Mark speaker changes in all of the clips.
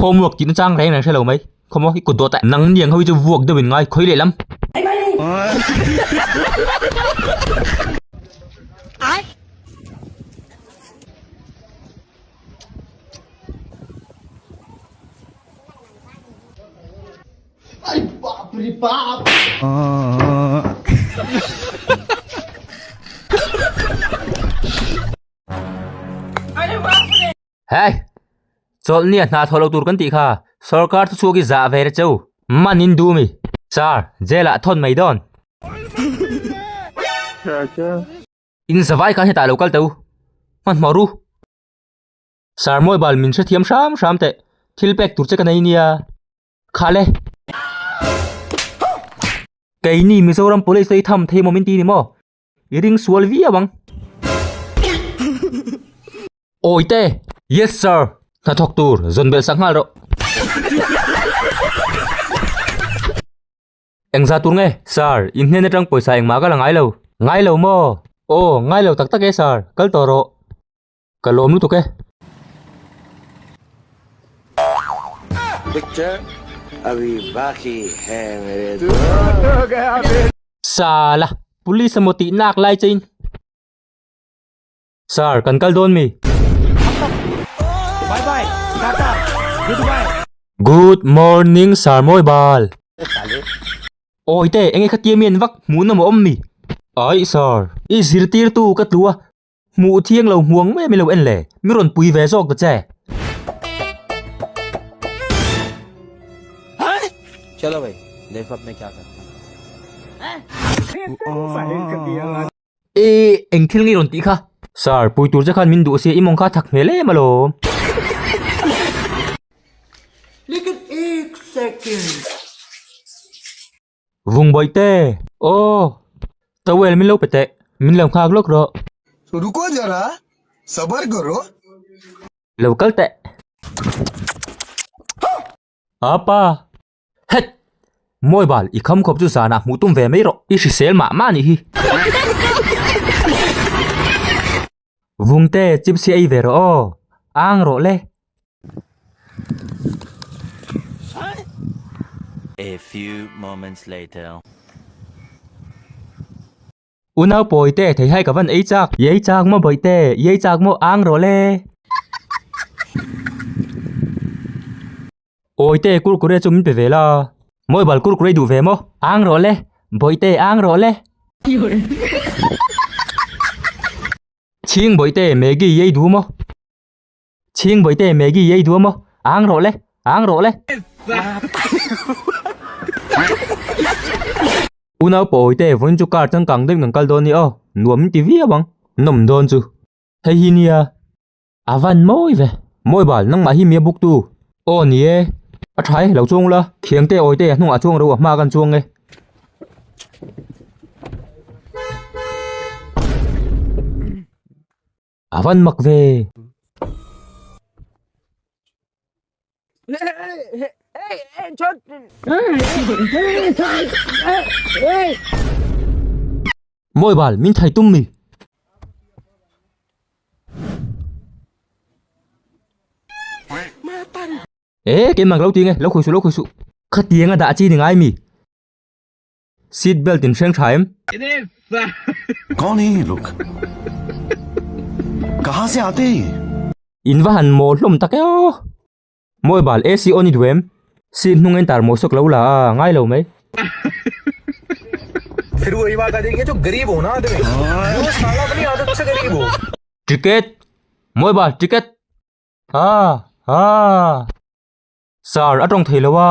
Speaker 1: Homework tihna chang reng reng hrelo mai khomaw i kut duh ta nang niang ho chu vuak deuhin ngai khawih lehlam Hei! Chawlhni a hna tho lo tur kan tih kha sorkar chu chhuak hi zah ve reh che u. Manin dum i sir jail ah thawn mai dawn. Inzavai khan hetah lo kal teh u, hmanhmawr u. Sir mobile min hrethiam hram hram teh, thil pek tur che ka nei nia. Khah le! Kei ni Mizoram Police i tham thei mawm in ti ni maw? I ring sual viau ang. Awi te! Yes sir! Hnathawk tur, zawn bel sak nghal rawh. Engzah tur nge sir, in hnen atang pawisa engmah kal a ngai lo. Ngai lo maw? Aw, ngai lo tak tak e sir, kal tawh rawh. Ka lawm lutuk e. Sala, police emaw tih nak lai che in. Sir, kan kal dawn mi. Good morning sir mawi bal. Awi te, enge kha tia mian vak, hmuhnawm a awm mi. Aih sir. I zirtirtu ka tlua. Hmuh thiang lo hmuang nge milo en le, mi rawn pui ve zawk ta che. Chalo hei, lei fap mai kiak a. I eng thil nge rawn tih kha? Sir, pui tur che khan min duh si, i mawng kha thak hmel em alawm. Like an exciting. Vung bawi te! Aw! Towel min lo pe teh. Min lo nghak lawk rawh. Ruko zara, sabar karo. Lo kal teh. Aa pa! Hek! Mawi bal, i kham khawp chu zanah hmuh tum ve mai rawh. I hrisel mah mah ni hi. Vungte chipsi ei ve rawh aw, ang rawh le. A few moments later. Unau pawi te thei hai ka van ei chak. Ei chak maw bawih te, ei chak maw ang rawh le. Awite kurkure chu min pe ve la. Mobile kurkure duh ve maw? Ang rawh le. Bawihte ang rawh le. Chhing bawihte Maggie ei duh maw? Chhing bawihte Maggie ei duh maw? Ang rawh le. Ang rawh le. Unau pawh awite vawiin chu car changkang deuhin kan kal dawn ni aw. Nuam min ti viau ang. Nawm dawn chu. Hei hi nia. A van mawi ve. Mawi bal, nangmah hi mia buktu. Aw ni e, a tha e, lo chuang ula, thiang te awi te a hnungah chuang reuh a hma kan chuang e. A van mak ve. Mawi bal, min thai tum mi. Ee, keimah ka lo ti nge, lo khawih suh, lo khawih suh. Khatianga dah a chi ni ngai mi? Seat belt in hreng tha em? Connie, look. Ka ha sia ati. In va han maw hlawm tak eo. Mawi bal AC on i duh em? Seat hnung a intar maw sawk lo la a ngai lo mai. Ticket, mawi bal ticket. Ha ha. Sir a tawng thei lo a.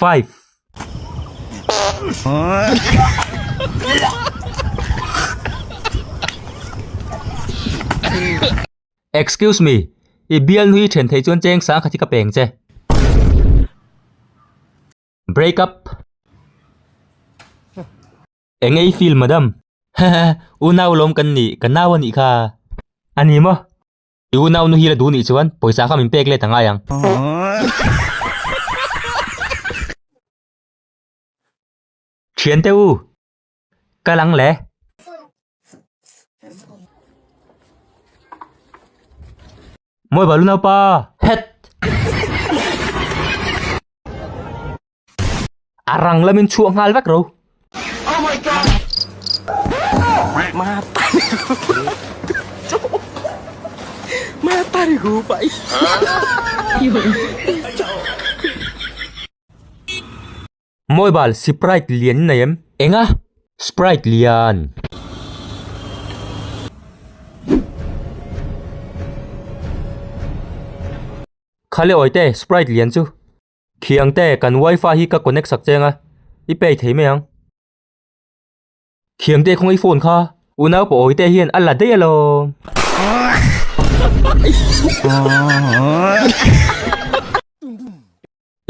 Speaker 1: Five. Excuse me, i bial nu hi then thei chuan cheng sang khat hi ka peng che. Break up. Eng nge i feel madam? Haha, u nau lawm kan nih, ka nau a nih kha. A ni maw? I unau nu hi la duh nih chuan pawisa kha min pek let a ngai ang. Thiante u, ka lang le. Mawi balu naupa, het. a rang lamin chhuak nghal vek ro oh my god ma pani ma pani gu pai moi bal sprite lian nei em enga sprite lian khale oite sprite lian chu Khiangte, kan wifi hi ka connect sak cheng a, i pay thei mai ang. Khiangte khawnga i phone kha unau paw awite hian a la daih alawm.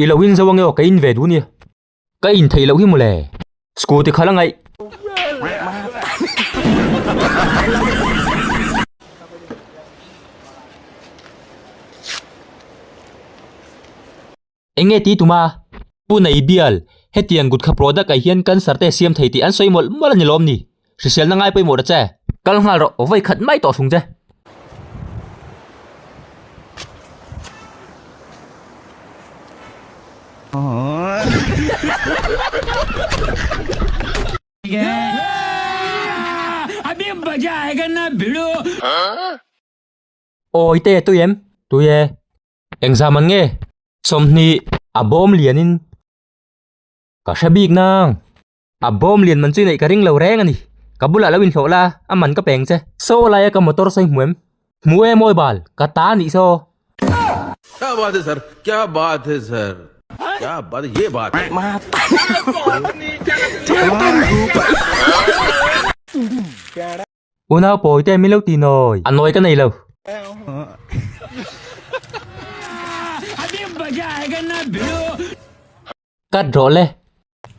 Speaker 1: I lo inzo ange aw ka inve duh nia. Ka in thei loh hi mawle. Scooty khala ngaih. Eng nge ti tuma? Pu Nei Bial, Hetiang gutkha product-ah hian cancer te siam thei tih an sawi mawlh mawlh a ni lawm ni. Hriselna ngai pawimawh ta che. Kal nghal rawh, vawi khat mai tawh hrum che. Awi te tui em? Tui e. Eng zam an nge? Sawmhnih a bawm lianin ka hre bik nang. A bawm lian man chu i neih ka ring lo reng a ni. Ka bulah lo inhlawh la, a man ka peng che. Saw laia ka motor sawi hmu em? Hmu em awi bal, ka ta a nih saw. Kya baat hai sir, kya baat hai sir, kya baat hai, ye baat hai. Ma tan. Unau pawi te min lo ti nawi. A nawi ka nei lo. Cut rawh le.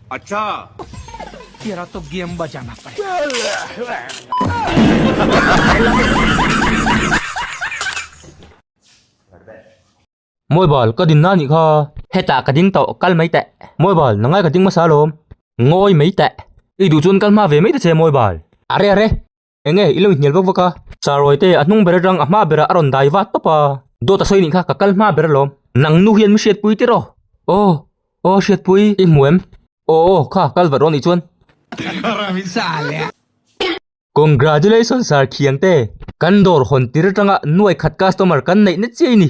Speaker 1: Acha. Tera to game ba jang apa. Mobile ka din na ni kha. Heta ka ding tawh kal mai teh. Mobile na ngai ka ding masa lawm. Ngawi mai teh. I duh chuan kal hma ve mai ta che mobile. Are are. eng nge i lo inhnial vak vak a, Charoy te a hnung ber atang a hma berah a rawn dai vat tawp a, Dawt a sawi nih kha ka kal hma ber alawm. Nang nu hian mi hriatpui tir aw? Aw aw hriatpui i hmu em? Aw aw kha kal vat rawh nih chuan. Congratulations Sir Khiang te. Kan dawr hawn tir atanga nuai khat customer kan neih na chiai ni.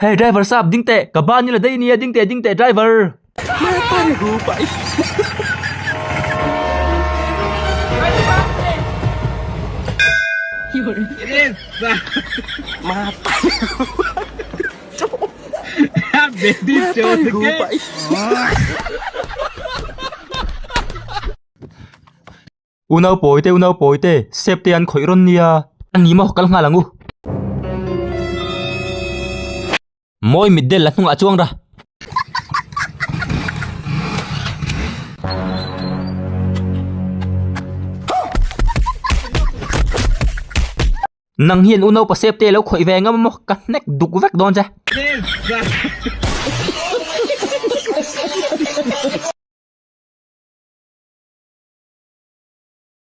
Speaker 1: Hei driver sap ding teh ka ban ila daih ania ding teh ding teh driver. Unau pawi te, unau pawi te, sep te an khawih rawn nia. An ni maw? Kal nghal ang u. Mawi mit del la hnungah chuang ra. Nang hian u naupa sep te lo khawih ve ngam maw ka hnek duk vek dawn che.